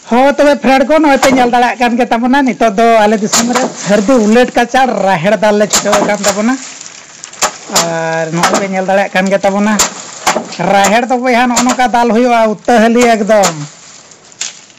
ᱦᱚᱸ ᱛᱚᱵᱮ ᱯᱷᱨᱮᱱᱰ ᱠᱚ ᱱᱚᱜᱼᱚᱭ ᱯᱮ ᱧᱮᱞ ᱫᱟᱲᱮᱭᱟᱜ ᱠᱟᱱ ᱜᱮ ᱛᱟᱵᱚᱱᱟ ᱱᱤᱛᱚᱜ ᱫᱚ ᱟᱞᱮ ᱫᱤᱥᱚᱢ ᱨᱮ ᱥᱟᱹᱨᱫᱤ ᱩᱞᱮᱴ ᱠᱟᱪᱟᱲ ᱨᱟᱦᱮᱲ ᱫᱟᱞ ᱞᱮ ᱪᱷᱩᱴᱟᱹᱣ ᱟᱠᱟᱱ ᱛᱟᱵᱚᱱᱟ ᱟᱨ ᱱᱚᱜᱼᱚᱭ ᱯᱮ ᱧᱮᱞ ᱫᱟᱲᱮᱭᱟᱜ ᱠᱟᱱ ᱜᱮ ᱛᱟᱵᱚᱱᱟ ᱨᱟᱦᱮᱲ ᱫᱚ ᱵᱚᱭᱦᱟ ᱱᱚᱜᱼᱚ ᱱᱚᱝᱠᱟ ᱫᱟᱞ ᱦᱩᱭᱩᱜᱼᱟ ᱩᱛᱟᱹᱦᱟᱹᱞᱤ ᱮᱠᱫᱚᱢ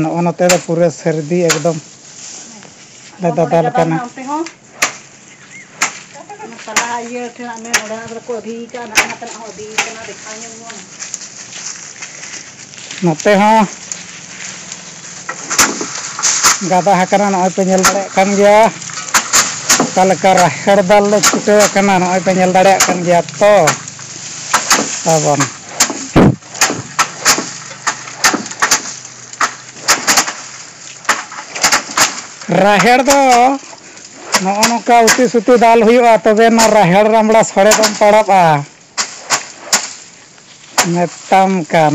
ᱱᱚᱜᱼᱚ ᱱᱚᱛᱮ ᱫᱚ ᱯᱩᱨᱟᱹ ᱥᱟᱹᱨᱫᱤ ᱮᱠᱫᱚᱢ ᱞᱮ ᱫᱟᱫᱟ ᱞᱮᱠᱟᱱᱟ᱾ ᱱᱚᱛᱮ ᱦᱚᱸ ᱜᱟᱫᱟ ᱟᱠᱟᱱᱟ ᱱᱚᱜᱼᱚᱭ ᱯᱮ ᱧᱮᱞ ᱫᱟᱲᱮᱭᱟᱜ ᱠᱟᱱ ᱜᱮᱭᱟ ᱚᱠᱟ ᱞᱮᱠᱟ ᱨᱟᱦᱮᱲ ᱫᱟᱞ ᱞᱮ ᱪᱷᱩᱴᱟᱹᱣ ᱟᱠᱟᱱᱟ ᱱᱚᱜᱼᱚᱭ ᱯᱮ ᱧᱮᱞ ᱫᱟᱲᱮᱭᱟᱜ ᱠᱟᱱ ᱜᱮᱭᱟ ᱛᱚ ᱛᱟᱵᱚᱱ᱾ ᱨᱟᱦᱮᱲ ᱫᱚ ᱱᱚᱜᱼᱚ ᱱᱚᱝᱠᱟ ᱩᱛᱩ ᱥᱩᱛᱩ ᱫᱟᱞ ᱦᱩᱭᱩᱜᱼᱟ ᱛᱚᱵᱮ ᱚᱱᱟ ᱨᱟᱦᱮᱲ ᱨᱟᱢᱲᱟ ᱥᱚᱲᱮ ᱫᱚᱢ ᱯᱟᱲᱟᱜᱼᱟ ᱢᱮᱛᱟᱢ ᱠᱟᱱ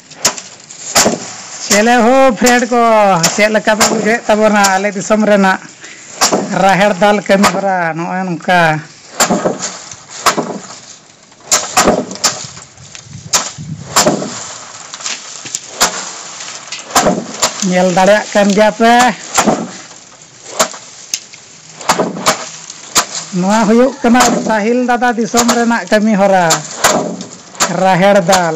ᱪᱮᱞᱮ ᱦᱳ ᱯᱷᱨᱮᱱᱰ ᱠᱚ ᱪᱮᱫ ᱞᱮᱠᱟ ᱯᱮ ᱵᱩᱡᱷᱟᱹᱣᱮᱫ ᱛᱟᱵᱚᱱᱟ ᱟᱞᱮ ᱫᱤᱥᱚᱢ ᱨᱮᱱᱟᱜ ᱨᱟᱦᱮᱲ ᱫᱟᱞ ᱠᱟᱹᱢᱤ ᱦᱚᱨᱟ ᱱᱚᱜᱼᱚᱭ ᱱᱚᱝᱠᱟ ᱧᱮᱞ ᱫᱟᱲᱮᱭᱟᱜ ᱠᱟᱱ ᱜᱮᱭᱟ ᱯᱮ ᱱᱚᱣᱟ ᱦᱩᱭᱩᱜ ᱠᱟᱱᱟ ᱥᱟᱦᱤᱞ ᱫᱟᱫᱟ ᱫᱤᱥᱚᱢ ᱨᱮᱱᱟᱜ ᱠᱟᱹᱢᱤ ᱦᱚᱨᱟ ᱨᱟᱦᱮᱲ ᱫᱟᱞ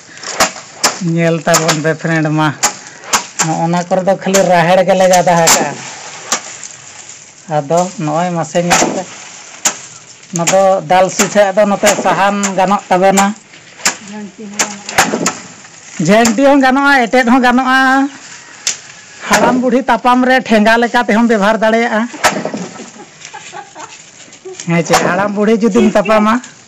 ᱧᱮᱞ ᱛᱟᱵᱚᱱ ᱯᱮ ᱯᱷᱨᱮᱱᱰ ᱢᱟ ᱱᱚᱜᱼᱚ ᱱᱟ ᱠᱚᱨᱮ ᱫᱚ ᱠᱷᱟᱹᱞᱤ ᱨᱟᱦᱮᱲ ᱜᱮ ᱞᱮ ᱜᱟᱫᱟ ᱟᱠᱟᱜᱼᱟ ᱟᱫᱚ ᱱᱚᱜᱼᱚᱭ ᱢᱟᱥᱮ ᱧᱮᱞ ᱯᱮ ᱱᱚᱣᱟ ᱫᱚ ᱫᱟᱞ ᱥᱤᱴᱷᱟᱹ ᱟᱫᱚ ᱱᱚᱛᱮ ᱥᱟᱦᱟᱱ ᱜᱟᱱᱚᱜ ᱛᱟᱵᱮᱱᱟ ᱡᱷᱟᱹᱱᱴᱤ ᱦᱚᱸ ᱜᱟᱱᱚᱜᱼᱟ ᱮᱴᱮᱫ ᱦᱚᱸ ᱜᱟᱱᱚᱜᱼᱟ ᱦᱟᱲᱟᱢ ᱵᱩᱰᱷᱤ ᱛᱟᱯᱟᱢ ᱨᱮ ᱴᱷᱮᱸᱜᱟ ᱞᱮᱠᱟ ᱛᱮᱦᱚᱸᱢ ᱵᱮᱵᱷᱟᱨ ᱫᱟᱲᱮᱭᱟᱜᱼᱟ ᱦᱮᱸ ᱪᱮ ᱦᱟᱲᱟᱢ ᱵᱩᱰᱷᱤ ᱡᱩᱫᱤᱢ ᱛᱟᱯᱟᱢᱟ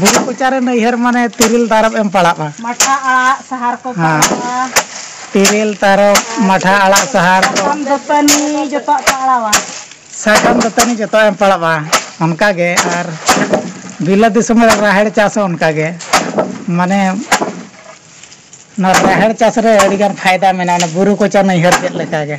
ᱵᱩᱨᱩ ᱠᱚᱪᱟ ᱨᱮ ᱱᱟᱹᱭᱦᱟᱹᱨ ᱢᱟᱱᱮ ᱛᱤᱨᱤᱞ ᱛᱟᱨᱚᱵ ᱮᱢ ᱯᱟᱲᱟᱜᱼᱟ᱾ ᱢᱟᱴᱷᱟ ᱟᱲᱟᱜ ᱥᱟᱦᱟᱨ ᱠᱚ ᱯᱟᱲᱟᱣᱟ᱾ ᱛᱤᱨᱤᱞ ᱛᱟᱨᱚᱵ ᱢᱟᱴᱷᱟ ᱟᱲᱟᱜ ᱥᱟᱦᱟᱨ ᱠᱚ᱾ ᱥᱟᱠᱟᱢ ᱫᱟᱹᱛᱟᱹᱱᱤ ᱡᱚᱛᱚᱣᱟᱜ ᱯᱟᱲᱟᱣᱟ᱾ ᱥᱟᱠᱟᱢ ᱫᱟᱹᱛᱟᱹᱱᱤ ᱡᱚᱛᱚᱣᱟᱜ ᱮᱢ ᱯᱟᱲᱟᱣᱟ ᱚᱱᱠᱟ ᱜᱮ ᱟᱨ ᱵᱤᱞᱟᱹᱛ ᱫᱤᱥᱚᱢ ᱨᱮ ᱨᱟᱦᱮᱲ ᱪᱟᱥ ᱦᱚᱸ ᱚᱱᱠᱟ ᱜᱮ ᱢᱟᱱᱮ ᱱᱚᱣᱟ ᱨᱟᱦᱮᱲ ᱪᱟᱥ ᱨᱮ ᱟᱹᱰᱤ ᱜᱟᱱ ᱯᱷᱟᱭᱫᱟ ᱢᱮᱱᱟᱜᱼᱟ ᱚᱱᱟ ᱵᱩᱨᱩ ᱠᱚᱪᱟ ᱱᱟᱹᱭᱦᱟᱹᱨ ᱪᱮᱫ ᱞᱮᱠᱟ ᱜᱮ᱾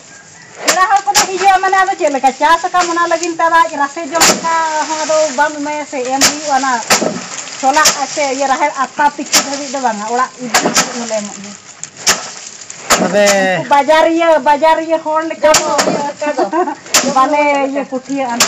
ᱯᱮᱲᱟ ᱦᱚᱲ ᱠᱚᱫᱚ ᱦᱤᱡᱩᱜᱼᱟ ᱢᱟᱱᱮ ᱟᱫᱚ ᱪᱮᱫ ᱞᱮᱠᱟ ᱪᱟᱥ ᱟᱠᱟᱢ ᱚᱱᱟ ᱞᱟᱹᱜᱤᱫ ᱛᱮ ᱟᱡ ᱨᱟᱥᱮ ᱡᱚᱢ ᱞᱮᱠᱟ ᱦᱚᱸ ᱟᱫᱚ ᱵᱟᱢ ᱮᱢᱟᱭᱟ ᱥᱮ ᱮᱢ ᱦᱩᱭᱩᱜᱼᱟ ᱚᱱᱟ ᱪᱷᱚᱞᱟ ᱥᱮ ᱤᱭᱟᱹ ᱨᱟᱦᱮᱲ ᱟᱛᱟ ᱛᱤᱠᱤ ᱫᱷᱟᱹᱵᱤᱡ ᱫᱚ ᱵᱟᱝᱟ ᱚᱲᱟᱜ ᱤᱫᱤ ᱫᱷᱟᱹᱵᱤᱡ ᱦᱚᱸᱞᱮ ᱮᱢᱚᱜ ᱜᱮᱭᱟ ᱛᱚᱵᱮ ᱩᱱᱠᱩ ᱵᱟᱡᱟᱨᱤᱭᱟᱹ ᱵᱟᱡᱟᱨᱤᱭᱟᱹ ᱦᱚᱲ ᱞᱮᱠᱟ ᱫᱚ ᱵᱟᱞᱮ ᱤᱭᱟᱹ ᱠᱩᱴᱷᱤᱭᱟᱹᱜᱼᱟ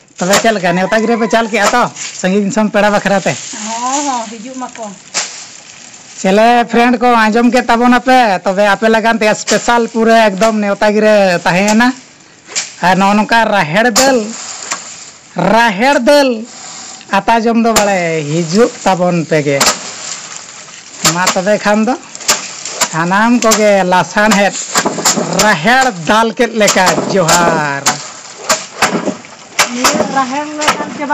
ᱛᱚᱵᱮ ᱪᱮᱫ ᱞᱮᱠᱟ ᱱᱮᱣᱛᱟ ᱜᱤᱨᱟᱹ ᱯᱮ ᱪᱟᱞ ᱠᱮᱜᱼᱟ ᱛᱚ ᱥᱟᱺᱜᱤᱧ ᱫᱤᱥᱚᱢ ᱯᱮᱲᱟ ᱵᱟᱠᱷᱨᱟ ᱛᱮ ᱦᱚᱸ ᱦᱚᱸ ᱦᱤᱡᱩᱜ ᱢᱟᱠᱚ ᱪᱮᱞᱮ ᱯᱷᱨᱮᱱᱰ ᱠᱚ ᱟᱸᱡᱚᱢ ᱠᱮᱫ ᱛᱟᱵᱚᱱᱟ ᱯᱮ ᱛᱚᱵᱮ ᱟᱯᱮ ᱞᱟᱜᱟᱱ ᱛᱮ ᱥᱯᱮᱥᱟᱞ ᱯᱩᱨᱟᱹ ᱮᱠᱫᱚᱢ ᱱᱮᱣᱛᱟ ᱜᱤᱨᱟᱹ ᱛᱟᱦᱮᱸ ᱮᱱᱟ ᱟᱨ ᱱᱚᱜᱼᱚ ᱱᱚᱝᱠᱟ ᱨᱟᱦᱮᱲ ᱫᱟᱹᱞ ᱨᱟᱦᱮᱲ ᱫᱟᱹᱞ ᱟᱛᱟ ᱡᱚᱢ ᱫᱚ ᱵᱟᱲᱮ ᱦᱤᱡᱩᱜ ᱛᱟᱵᱚᱱ ᱯᱮᱜᱮ ᱢᱟ ᱛᱚᱵᱮ ᱠᱷᱟᱱ ᱫᱚ ᱥᱟᱱᱟᱢ ᱠᱚᱜᱮ ᱞᱟᱥᱟᱬᱦᱮᱫ ᱨᱟᱦᱮᱲ ᱫᱟᱞ ᱠᱮᱫ ᱞᱮᱠᱟ ᱡᱚᱦᱟᱨ᱾ ᱱᱤᱭᱟᱹ ᱨᱟᱦᱮᱲ ᱞᱮ ᱫᱟᱞ ᱪᱟᱵᱟ᱾